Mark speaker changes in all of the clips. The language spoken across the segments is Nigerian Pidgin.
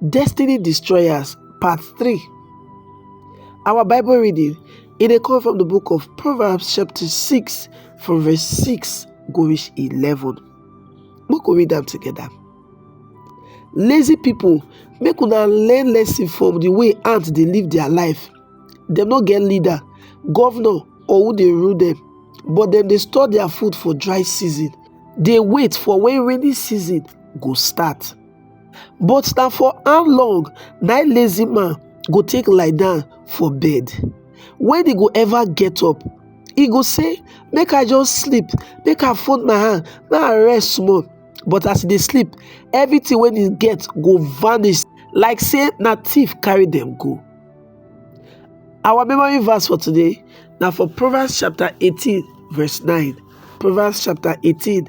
Speaker 1: Destiny Destroyers, Part 3. Our Bible reading, it dey come from the book of Proverbs, chapter 6, from verse 6 go reach 11. Make we read them together. Lazy people, make una learn lesson from the way ants dey live their life. Dem no get leader, governor, or who dey rule them, but dem dey store their food for dry season, dey wait for when rainy season go start. But na for how long na im lazy man go take lie down for bed? When he go ever get up? He go say, Make I just sleep, make I fold my hand, make I rest small. But as he dey sleep, everything wey he get go vanish like say na thief carry them go. Our memory verse for today now for Proverbs chapter 18, verse 9. Proverbs chapter 18,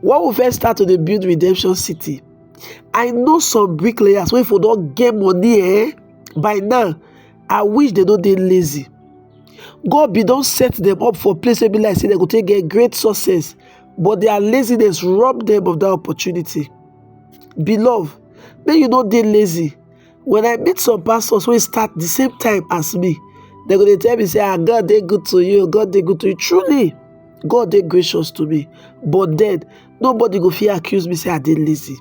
Speaker 1: when we first start to dey build redemption city i know some bricklayers wey for don get money eh by now i wish they no dey lazy god be don set them up for place wey be like say they go take get great success but their laziness rob them of that opportunity beloved make you no dey lazy When I meet some pastors wey start the same time as me, dem go dey tell me say, ah, God dey good to you, God dey good to you. Truly, God dey gracious to me. But then, nobody go fit accuse me say I dey lazy.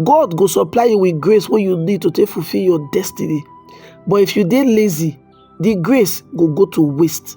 Speaker 1: God go supply you with grace wey you need to take fulfill your destiny. But if you dey lazy, the grace go go to waste.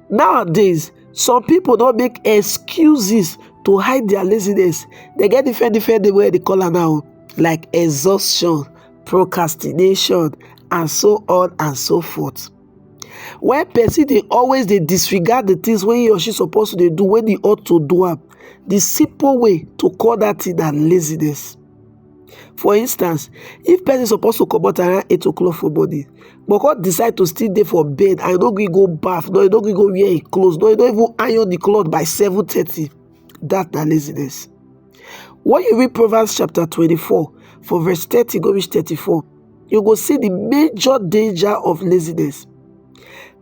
Speaker 1: Nowadays, some people don't make excuses to hide their laziness. They get different different name wey dem dey call am now like exhaustion, procrastination and so on and so forth. When person they always they disregard the things when he or she supposed to they do when he ought to do am, the simple way to call that thing na laziness. For instance, if person suppose to comot around 8 o'clock for morning but come decide to still dey for bed and e no gree go baff, no e no gree go wear im clothes, no e no even iron the cloth by 7:30, that na laziness. When you read Proverbs chapter 24 for verse 30 go reach 34, you go see the major danger of laziness.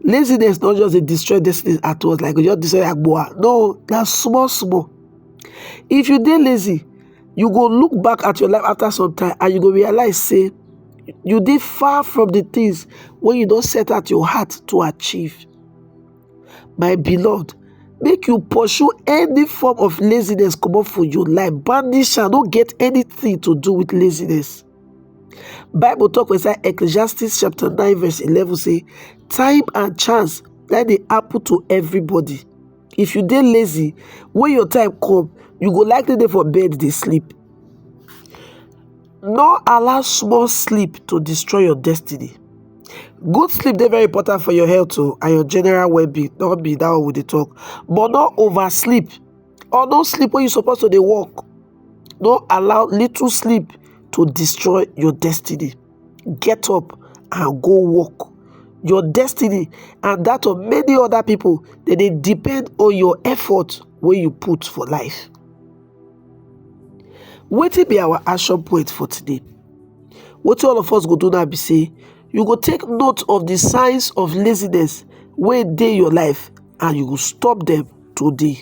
Speaker 1: Laziness not just dey destroy destiny at once like e go just destroy agboa, no na small small. If you dey lazy, you go look back at your life after some time and you go realize say you dey far from the things wey you don set out your heart to achieve my beloved make you pursue any form of laziness comot for your life banish am no get anything to do with laziness bible talk for inside ecclesiastes chapter 9 verse 11 say time and chance na dey happen to everybody If you dey lazy, when your time come, you go likely dey for bed dey sleep. No allow small sleep to destroy your destiny. Good sleep dey very important for your health o oh, and your general well-being, no be that one we dey talk. But no oversleep or no sleep when you suppose to dey work. No allow little sleep to destroy your destiny. get up and go work your destiny and that of many other people they dey depend on your effort wey you put for life wetin be our action point for today wetin all of us go do now be say you go take note of the signs of laziness wey dey your life and you go stop them today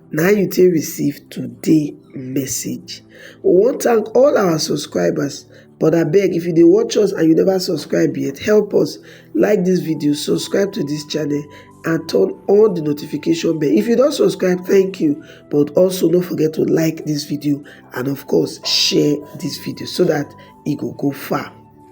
Speaker 1: na you take receive today message we wan thank all our subscribers but abeg if you dey watch us and you never subscribe yet help us like this video subscribe to this channel and turn on the notification bell if you don subscribe thank you but also no forget to like this video and of course share this video so that e go go far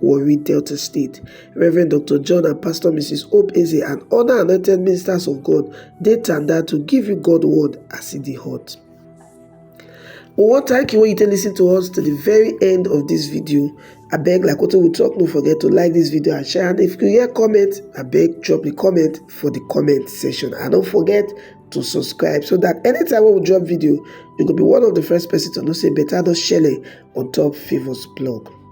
Speaker 1: Warri, Delta State. Reverend Doctor John and Pastor Mrs. Hope Eze and other anointed ministers of God dey tanda to give you God word as e dey hot. We wan thank you wey you take listen to us to the very end of this video. Abeg like wetin we talk no forget to like this video and share and if you hear comment abeg drop the comment for the comment section and don't forget to subscribe so that anytime wey we drop video you go be one of the first person to know say better don shele on top Favours blog.